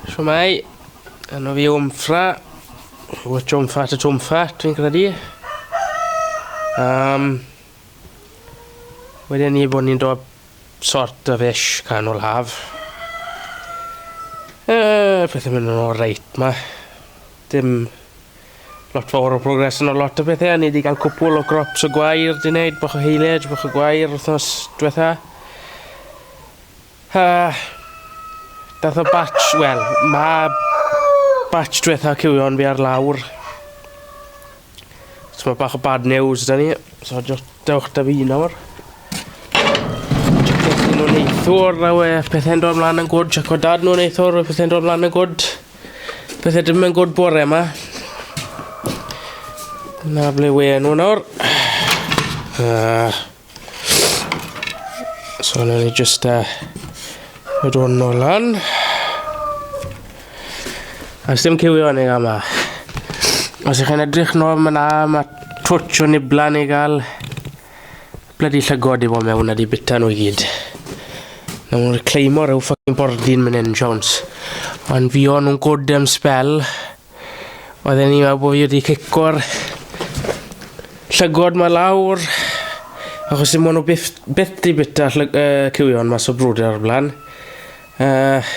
Shwmai, enw fi Wmffra, o Twmffra to Twmffra, dwi'n credu. Um, wedyn ni bod ni'n dod sort of ish canol haf. Uh, pethau mynd yn ôl reit ma. Dim lot fawr o progres yn o lot o bethau. Ni wedi cael cwpwl o grops o gwair di wneud, bach o heiled, bach o gwair wythnos diwetha. Ha! Dath y batch, wel, mae batch diwetha cywion fi ar lawr. So mae bach o bad news da ni. So just dewch da fi nawr. Checkers nhw'n neithwr, na we, pethau'n dod mlaen yn gwrdd, check o dad nhw'n neithwr, pethau'n dod mlaen yn gwrdd. Pethau dim yn gwrdd bore yma. Na ble we nhw nawr. Uh. So na ni just uh, y dod nôl lan. A sdim cywio ni yma. Os ych chi'n edrych nôl yma, mae twtch o nibla ni gael. Blydi llygod i fod mewn a di bita nhw i gyd. Na nhw'n reclaimo rhyw ffocin bordin mynd yn Jones. Ond fi o'n nhw'n gwrdd am spel. Oedden ni'n meddwl bod fi wedi cico'r llygod ma lawr, achos dim ond o byth, byth di bita llyg, uh, cywion mas o brwder o'r blaen. Uh,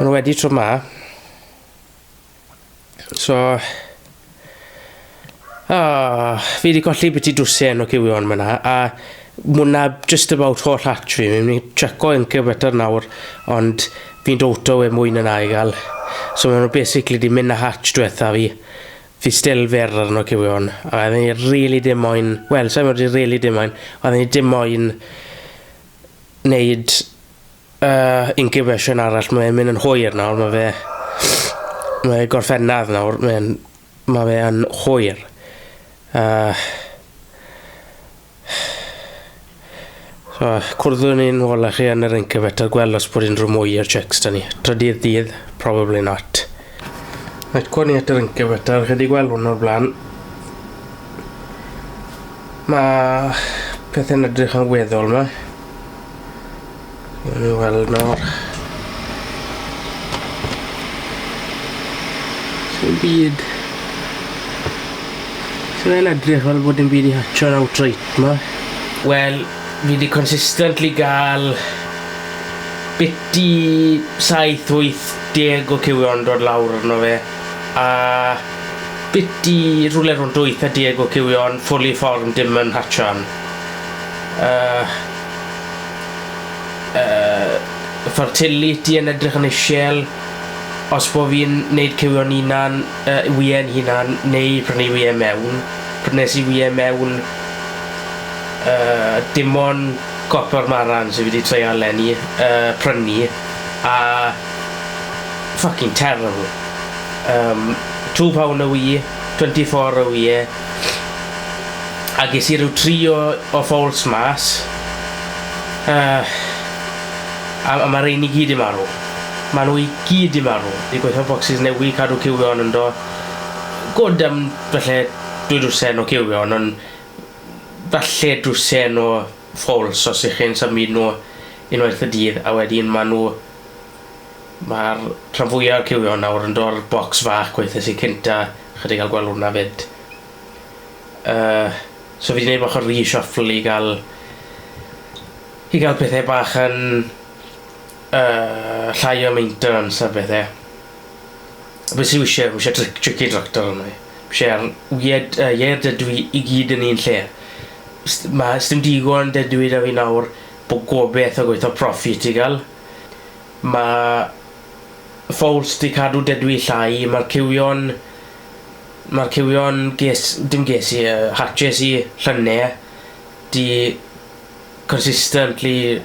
Mae nhw wedi tro ma. So, Oh, fi wedi colli beth i dwsen o cywion fyna, a mwna just about holl hatch fi. Fi'n mynd i checo incubator nawr, ond fi'n dowto e mwy na na i gael. So maen nhw basically wedi mynd na hatch diwetha fi. Fi still fer ar yno cywion. A oedden ni really dim moyn, wel, sa'n wedi really dim moyn, oedden ni dim moyn wneud Uh, incubation arall, mae'n mynd yn hwyr nawr, mae fe... Mae gorffennaf nawr, mae'n... Mae fe yn hwyr. Uh, so, cwrddwn ni'n ôl â chi yn yr incubator, gweld os bod unrhyw mwy i'r checks da ni. Trydydd dydd, probably not. Reit, gwni at yr incubator, chi wedi gweld hwn o'r blaen. Mae pethau'n edrych yn weddol yma. Gwni weld nawr. Sy'n byd... Sy'n edrych fel bod yn byd i hatcho yn outright yma. Wel, fi wedi consistently gael biti 7-8 deg o cywion yn dod lawr arno fe, a bit i rwle rhwng dwyth a deg o cywion fully formed dim yn hatchio yn y y fertility yn edrych yn ishel os bo fi'n neud cywion hunan y wye'n hunan neu prynu wye mewn. Prynes i wye mewn y dim on' Copper Marans fi 'di treial leni yy prynu. A fucking terrible. Yym two pound a wee, twenty four a wee. A ges i ryw tri o o fowls mas. Yy a a ma' rein i gyd 'di marw. Ma' nhw i gyd 'di marw. Fi'n gweithio bocsys newy' cadw cywion yndo. Good am falle dwy dwsin o cywion on' falle dwsin o False, os ych chi'n symud nhw unwaith y dydd a wedyn maen nhw... mae'r rhan fwyaf o'r cywion nawr yn dod o'r bocs fach gweithiais i cynta, chi 'di cael gweld hwnna 'fyd. Yy, so fi 'di 'neud bach o reshuffle i gael... i gael pethau bach yn yy llai o maintenance a pethau. Be sy isie? Fi isie tric- tricky tractor arno fi. Fi isie ar wied yy ieir dydw i i gyd yn un lle. S- ma' sdim digon dydw i 'da fi nawr bo' gobeth o gweitho profi ti ga'l. Ma' ffowls 'di cadw dydw i llai ma'r cywion ma'r cywion ges dim ges i yy hatches i llynne 'di consistently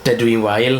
dydw i'n wael.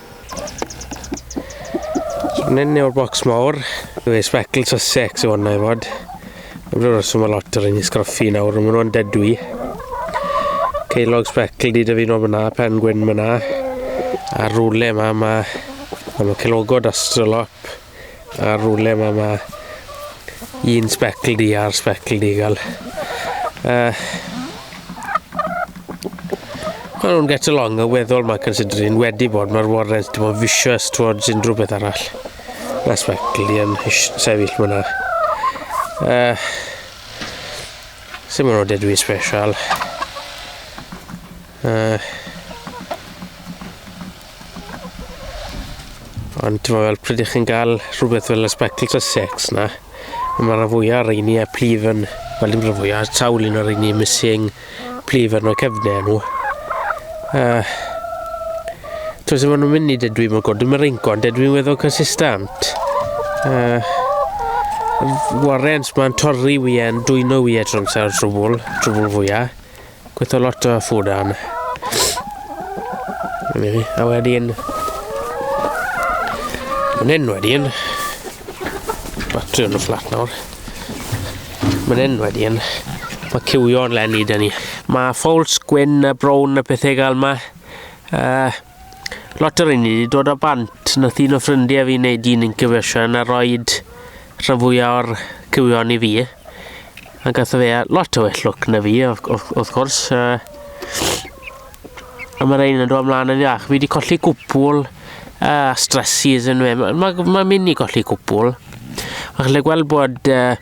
So nyn yw'r bocs mawr. Dwi ei specl to sex yw hwnna i fod. Dwi'n rhywbeth sy'n mynd lot ar un i sgraffu nawr, ond maen nhw'n dedwy. Ceilog specl di dyfu nhw fyna, pen gwyn fyna. A rwle yma, mae... Mae nhw ceilogod astrolop. Ar rwle mae ma un specl di a'r specl di gael. Uh, Maen nhw'n get along yn weddol mae considering wedi bod mae'r warrens dim ond vicious towards unrhyw beth arall. Mae specl di yn sefyll fyna. Uh, Symud o dedwy special. Uh, ond ti'n fel pryd ych chi'n gael rhywbeth fel y spectacles a sex na, mae rhan fwyaf ar ein ni a plif yn, fel dim rhan fwyaf, sawl un ar ein ni missing plif yn o'r cefnau nhw. Uh, Ti'n sef nhw'n mynd i dedwi mae'n god, dim yr eingon, dedwi'n weddol consistent. Uh, Warrens mae'n torri wyau, dwyno wyau trwy'n sa'r trwbl, trwbl fwyaf. Gweithio lot o ffwrn. A wedyn... Mae'n hyn wedyn. Batri yn y fflat nawr. Mae'n hyn wedyn. Mae cywio'n lenni dyn ni. Mae ffowls gwyn a brown a pethau gael yma. Uh, Lot o rheiny wedi dod o bant. Nath un o ffrindiau fi wneud un incubation a roed rhan fwyaf o'r cywion i fi. A gath o fe lot o well look na fi, wrth gwrs. A mae rhain yn dod ymlaen yn iach. Fi wedi colli cwpwl a stresses yn fe. Mae'n ma, ma mynd i golli cwpwl. Mae'n lle gweld bod uh,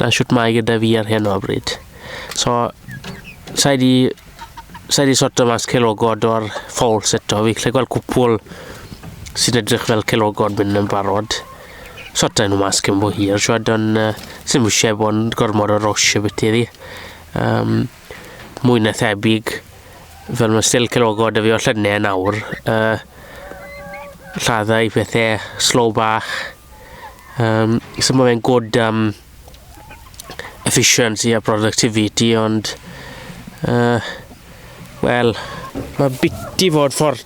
na shwt mae gyda fi ar hyn o bryd. So, sa'i di, sa'i di sorto mas celogod o'r falls eto. Fi lle gweld cwpwl sy'n edrych fel celogod mynd yn barod. Sorto nhw mas cyn bo hir, siwad, ond uh, sy'n eisiau bod yn gormod o rosh y bit iddi. Um, mwy na thebyg, fel mae still cilogod y fi o llynau yn awr, uh, lladdau i pethau slow bach. Um, so mae fe'n good um, efficiency a productivity, ond, uh, wel, mae biti fod ffordd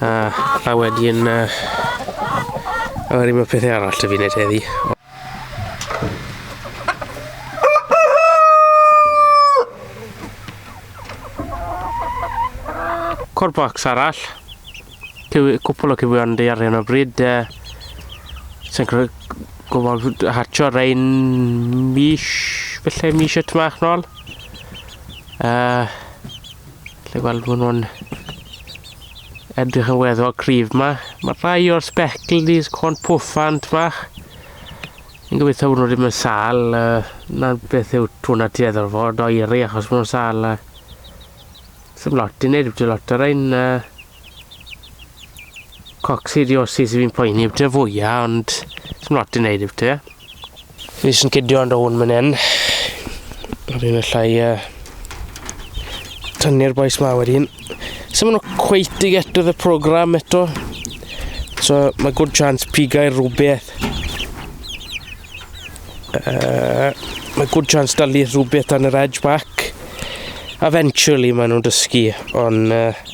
A, a wedyn... Uh, a wedyn mae pethau arall da fi wneud heddi. Corbacs arall. Cwpl o cywion di ar hyn o bryd. Uh, Sa'n gwybod hatcho rhain mis, felly mis y tmach nôl. Uh, Felly weld bod nhw'n edrych yn weddol cryf ma. Mae rhai o'r speckledies, corn pwffant ma. Yn gobeithio bod nhw ddim yn sal. Uh, na beth yw twna tueddol fod o iri achos bod nhw'n sal. Uh, Sym lot i wneud, wedi lot o'r ein... Uh, Coccidiosis sydd fi'n poeni amdano fwya, ond sy'n lot i wneud yw ti. Fi sy'n cidio ond o'n mynd hyn. Rwy'n un allai uh, tynnu'r boes ma wedyn. Sy'n mynd o cweit i get y program eto. So mae good chance pigau rhywbeth. Uh, mae good chance dalu rhywbeth dan yr edge back. Eventually maen nhw'n dysgu, ond... Uh,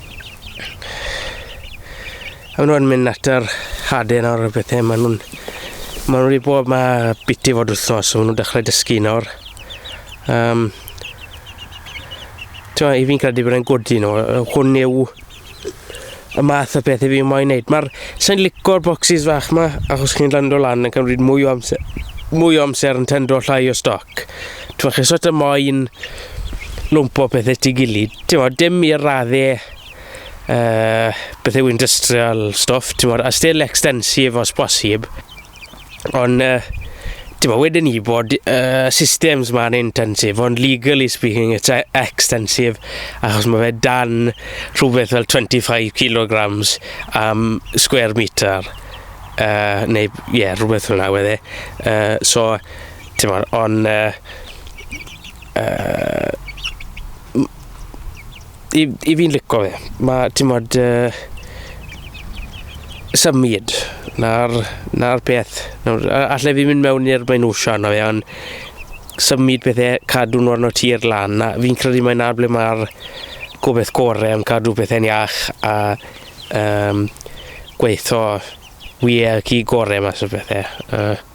A nhw'n mynd at yr hade nawr y bethau, maen nhw'n... Maen nhw wedi bod ma biti fod wythnos, so maen nhw'n dechrau dysgu nawr. Um, Tewa, i fi'n credu bod e'n gwrdd nhw, hwn yw y math o beth i fi moyn wneud. Mae'r... Sa'n licor boxes fach ma, achos chi'n lando lan yn cymryd mwy o amser, mwy o amser yn tendo llai o stoc. Ti'n chi sort of moyn lwmpo pethau ti gilydd. Ti'n modd, dim i'r raddau uh, beth yw industrial stuff, ti'n modd, a still extensive os bosib. Ond, uh, ti'n modd, wedyn ni bod uh, systems ma'n intensive, ond legally speaking, it's e-, extensive, achos mae fe dan rhywbeth fel 25 kilograms am um, square meter. Uh, neu, ie, yeah, rhywbeth fel yna, wedde. Uh, so, Ti'n modd, on... Uh, uh, i, i fi'n lico fe. Mae, ti'n modd, uh, symud na'r, na peth. Nawr, allai fi mynd mewn i'r mae'n wsio arno fe, ond symud pethau, cadw nhw arno tir lan. Na, fi'n credu mae na ble mae'r gobeith gorau am cadw pethau'n iach a um, gweithio wir y gorau mas o bethau. Uh,